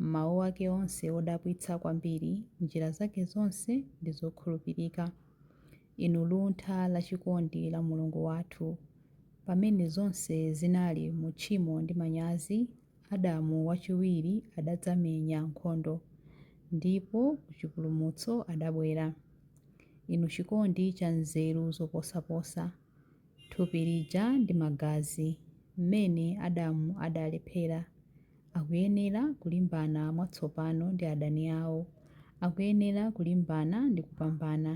M'mawu ake onse odabwitsa kwambiri, njira zake zonse ndi zokhulupirika. Inu luntha lachikondi la Mulungu wathu! Pamene zonse zinali mu tchimo ndi manyazi, Adamu wachiwiri adadzamenya nkhondo, ndipo ku chipulumutso adabwera. Inu chikondi cha nzeru zoposaposa! Thupi lija ndi magazi, mmene Adamu adalephera! Akuyenera kulimbana mwatsopano ndi adani awo. Akuyenera kulimbana ndi kupambana.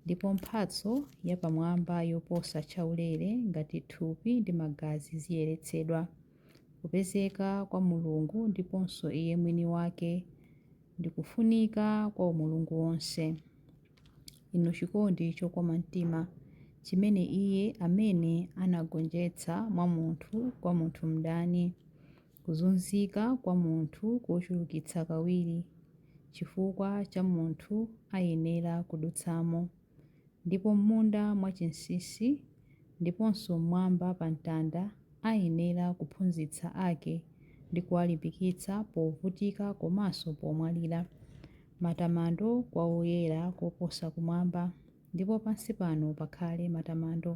Ndipo mphatso yapamwamba yoposa chaulere ngati thupi ndi magazi ziyeretsedwa. Kupezeka kwa Mulungu ndiponso iye mwini wake ndi kufunika kwa umulungu wonse. inu chikondi chokoma mtima chimene iye amene anagonjetsa mwa munthu kwa munthu mdani kuzunzika kwa munthu kochulukitsa kawiri chifukwa cha munthu ayenera kudutsamo ndipo m'munda mwachinsinsi ndiponso m'mwamba pa mtanda ayenera kuphunzitsa ake ndi kuwalimbikitsa povutika komanso pomwalira. Matamando kwa Woyera koposa kumwamba, ndipo pansi pano pakhale matamando.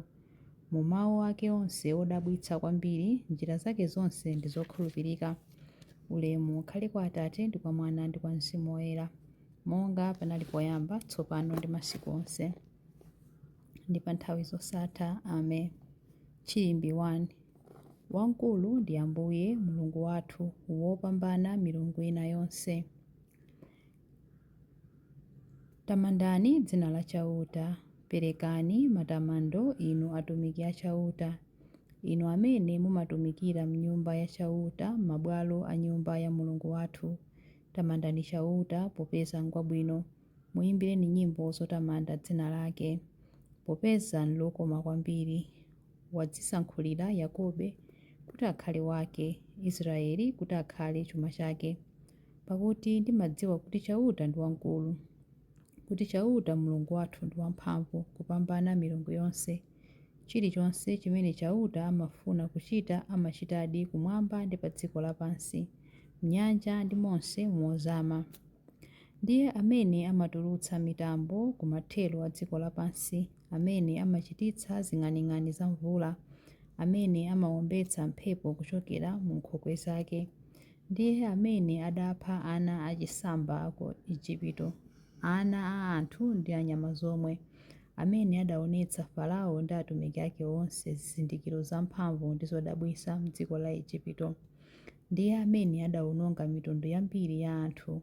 Mu mawu ake onse odabwitsa kwambiri, njira zake zonse ndi zokhulupirika. Ulemu ukhale kwa Atate, ndi kwa Mwana, ndi kwa Mzimu Woyera, monga panali poyamba, tsopano ndi masiku onse. ndi pa nthawi zosatha. Amen. Chiimbi 1. Wamkulu ndi Ambuye Mulungu wathu, wopambana milungu ina yonse. Tamandani dzina la Chauta, perekani matamando inu atumiki a Chauta, inu amene mumatumikira m'nyumba ya Chauta, m'mabwalo a nyumba ya Mulungu wathu. Tamandani Chauta, popeza ngwabwino. Muimbireni nyimbo zotamanda dzina lake, popeza n'lokoma kwambiri. Wadzisankhulira Yakobe kuti akhale wake, Israyeli kuti akhale chuma chake. Pakuti ndimadziwa kuti Chauta ndi wamkulu, kuti Chauta Mulungu wathu ndi wamphamvu kupambana milungu yonse. Chilichonse chimene Chauta amafuna kuchita amachitadi kumwamba ndi pa dziko lapansi, m'nyanja ndi monse mozama. Ndiye amene amatulutsa mitambo kumathero a dziko lapansi, amene amachititsa zing'aning'ani za mvula, amene amawombetsa mphepo kuchokera mu nkhokwe zake. Ndiye amene adapha ana achisamba ku Ejipito, ana a anthu ndi a nyama zomwe, amene adaonetsa Farao ndi atumiki ake onse zizindikiro zamphamvu ndi zodabwitsa m'dziko la Ejipito. Ndiye amene adawononga mitundu yambiri ya anthu.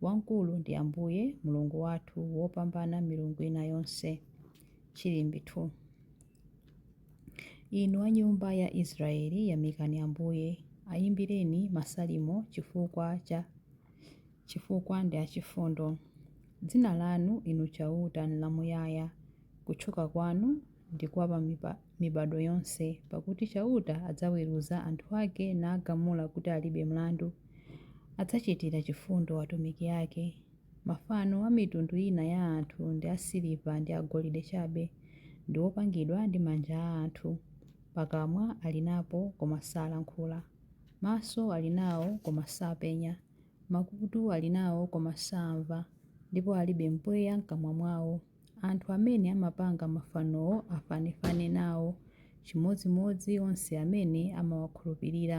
Wamkulu ndi Ambuye, Mulungu wathu, wopambana milungu ina yonse. Chilimbi 2 Inu a nyumba ya Israeli, yamikani Ambuye, ayimbireni masalimo chifukwa ndi achifundo. Dzina lanu, Inu Chauta, nlamuyaya, kutchuka kwanu ndi kwa pa mibadwo yonse, pakuti Chauta adzaweruza anthu ake nagamula kuti alibe mlandu. Adzachitira chifundo atumiki ake. Mafano a mitundu ina ya anthu ndi asiliva ndi agolide chabe, ndi opangidwa ndi manja a anthu. Pakamwa ali napo, koma salankhula. Maso ali nawo, koma sapenya. Makutu ali nawo, koma saamva, ndipo alibe mpweya m'kamwa mwao. Anthu amene amapanga mafanowo afanefane nawo, chimodzimodzi onse amene amawakhulupirira.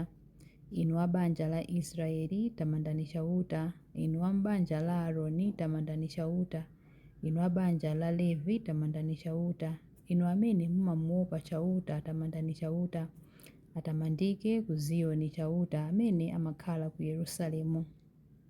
Inu a banja la Israeli, tamandani Chauta, inu a m'banja la Aroni, tamandani Chauta, inu a banja la Levi, tamandani Chauta, inu amene mumamuwopa Chauta, tamandani Chauta. Atamandike ku Ziyoni Chauta amene amakhala ku Yerusalemu.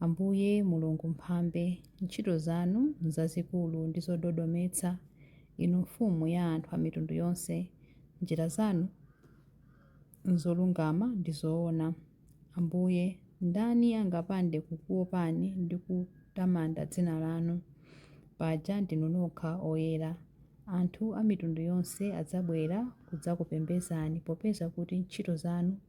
Ambuye, Mulungu Mphambe, ntchito zanu nzazikulu ndi zododometsa, Inu Mfumu ya anthu a mitundu yonse, njira zanu nzolungama ndi zoona. Ambuye, ndani angapande kukuopani ndi kutamanda dzina lanu? Paja ndinu nokha oyera. Anthu a mitundu yonse adzabwera kudzakupembedzani popeza kuti ntchito zanu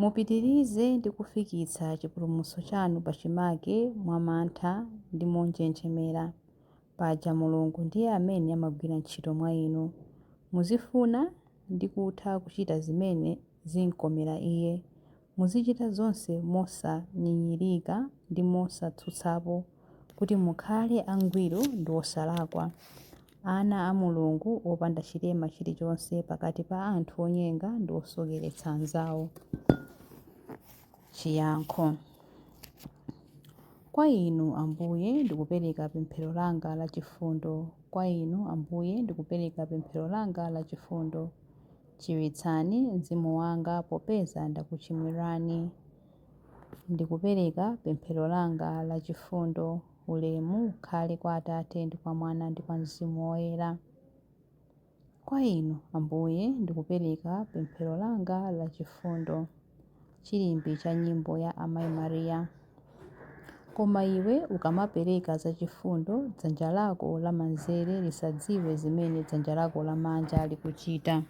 Mupitirize ndi kufikitsa chipulumutso chanu pachimake mwa mantha ndi monjenjemera, paja Mulungu ndiye amene amagwira ntchito mwa inu. Muzifuna ndi kutha kuchita zimene zim'komera Iye. Muzichita zonse mosanyinyirika ndi mosatsutsapo, kuti mukhale angwiro ndi osalakwa. ana a Mulungu opanda chilema chilichonse pakati pa anthu onyenga ndi osokeretsa anzawo. Chiyankho Kwa Inu, Ambuye, ndikupereka pemphero langa la chifundo. Kwa Inu, Ambuye, ndikupereka pemphero langa la chifundo. Chiritsani mzimu wanga popeza ndakuchimwirani. Ndikupereka pemphero langa la chifundo. Ulemu ukhale kwa Atate, ndi kwa Mwana, ndi kwa Mzimu Woyera. Kwa Inu, Ambuye, ndikupereka pemphero langa la chifundo, chilimbi cha nyimbo ya Amai Maria. Koma iwe ukamapereka za chifundo, dzanja lako lamanzere lisadziwe zimene dzanja lako lamanja likuchita.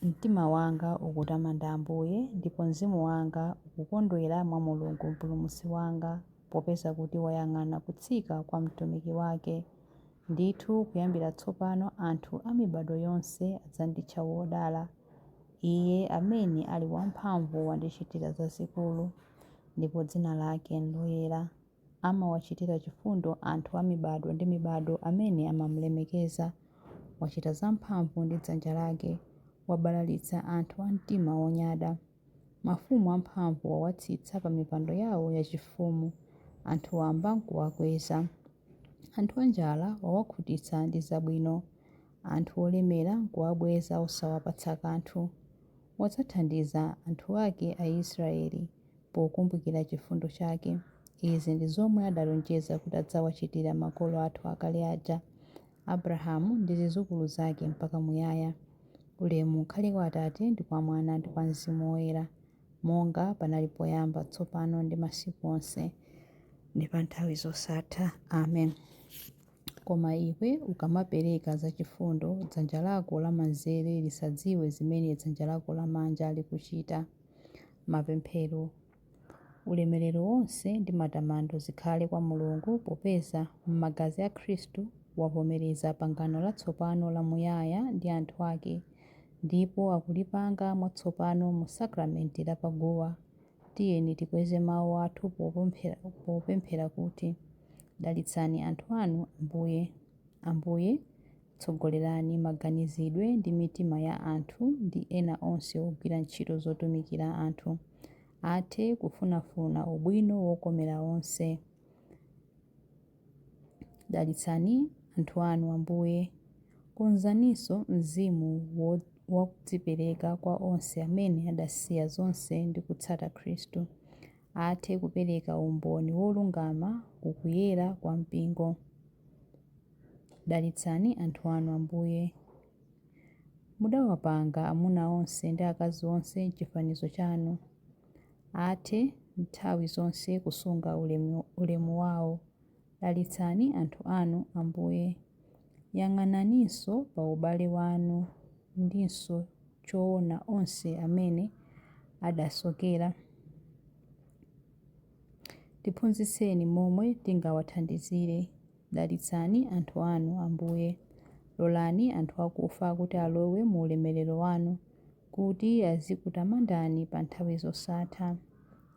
Mtima wanga ukutamanda Ambuye, ndipo mzimu wanga ukukondwera mwa Mulungu Mpulumutsi wanga, popeza kuti wayang'ana kutsika kwa mtumiki wake. Ndithu kuyambira tsopano anthu a mibadwo yonse adzanditcha wodala. Iye amene ali wamphamvu wandichitira zazikulu, ndipo dzina lake n'loyera. Amawachitira chifundo anthu a mibadwo ndi mibadwo amene amamlemekeza. Wachita zamphamvu ndi dzanja lake, wabalalitsa anthu a mtima wonyada. Mafumu amphamvu wawatsitsa pa mipando yao yachifumu, anthu wamba nkuwakweza. Anthu anjala wawakhutitsa ndi zabwino, anthu olemera nkuwabweza osawapatsa kanthu. Wadzathandiza anthu ake Aisraele, pokumbukira chifundo chake. Izi ndi zomwe adalonjeza kuti adzawachitira makolo athu akale aja, Abrahamu ndi zidzukulu zake mpaka muyaya. Ulemu ukhale kwa Atate ndi kwa Mwana ndi kwa Mzimu Woyera, monga panali poyamba, tsopano ndi masiku onse, ndi pa nthawi zosatha. Amen. Koma iwe ukamapereka zachifundo, dzanja lako lamanzere lisadziwe zimene dzanja lako lamanja likuchita. Mapemphero Ulemerero wonse ndi matamando zikhale kwa Mulungu popeza, m'magazi a Khristu, wavomereza pangano latsopano lamuyaya ndi anthu ake, ndipo akulipanga mwatsopano mu sakramenti la pa guwa. Tiyeni tikweze mawu athu popemphera kuti, Dalitsani anthu anu, Ambuye. Ambuye, Tsogolerani maganizidwe ndi mitima ya anthu ndi ena onse ogwira ntchito zotumikira anthu athe kufunafuna ubwino wokomera onse. Dalitsani anthu anu, Ambuye. Konzaninso mzimu wa kudzipereka kwa onse amene adasiya zonse ndi kutsata Khristu. Athe kupereka umboni wolungama ku kuyera kwa Mpingo. Dalitsani anthu anu, Ambuye. Mudawapanga amuna onse ndi akazi onse m'chifanizo chanu. Athe nthawi zonse kusunga ulemu wao. Dalitsani anthu anu, Ambuye. Yang'ananinso pa ubale wanu ndinso choona onse amene adasokera. Tiphunzitseni momwe tingawathandizire. Dalitsani anthu anu, Ambuye. Lolani anthu akufa kuti alowe mu ulemerero wanu, kuti azikutamandani pa nthawi zosatha.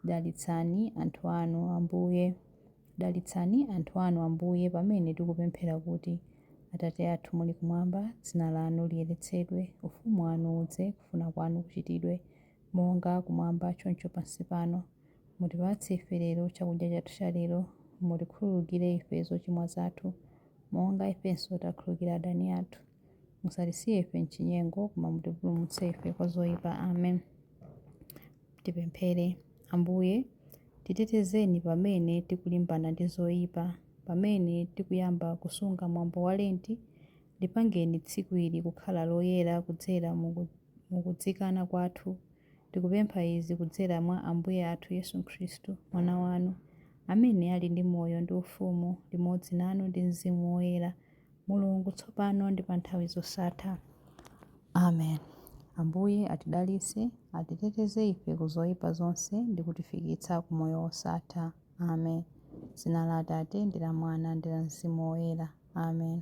Dalitsani anthu anu, Ambuye. Dalitsani anthu anu, Ambuye, pamene tikupemphera kuti, Atate athu muli kumwamba, dzina lanu liyeretsedwe, ufumu wanu udze, kufuna kwanu kuchitidwe, monga kumwamba choncho pansi pano. Mutipatse ife lero chakudya chathu cha lero, mutikhululukire ife zochimwa zathu, monga ifenso takhululukira adani athu, musatisiye ife m'chinyengo, koma mutipulumutse ife kwa zoipa. Amen. Tipemphere. Ambuye, titetezeni pamene tikulimbana ndi zoipa, pamene tikuyamba kusunga mwambo wa Lenti, lipangeni tsiku ili kukhala loyera kudzera mu kudzikana kwathu, Tikupempha izi kudzera mwa Ambuye athu Yesu Khristu, Mwana wanu, amene ali ndi moyo ndi ufumu limodzi nanu ndi mzimu woyera, Mulungu, tsopano ndi pa nthawi zosatha. Amen. Ambuye atidalitse, atiteteze ife ku zoyipa zonse ndi kutifikitsa ku moyo wosatha. Amen. Dzina la Atate, ndi la Mwana, ndi la Mzimu Woyera. Amen.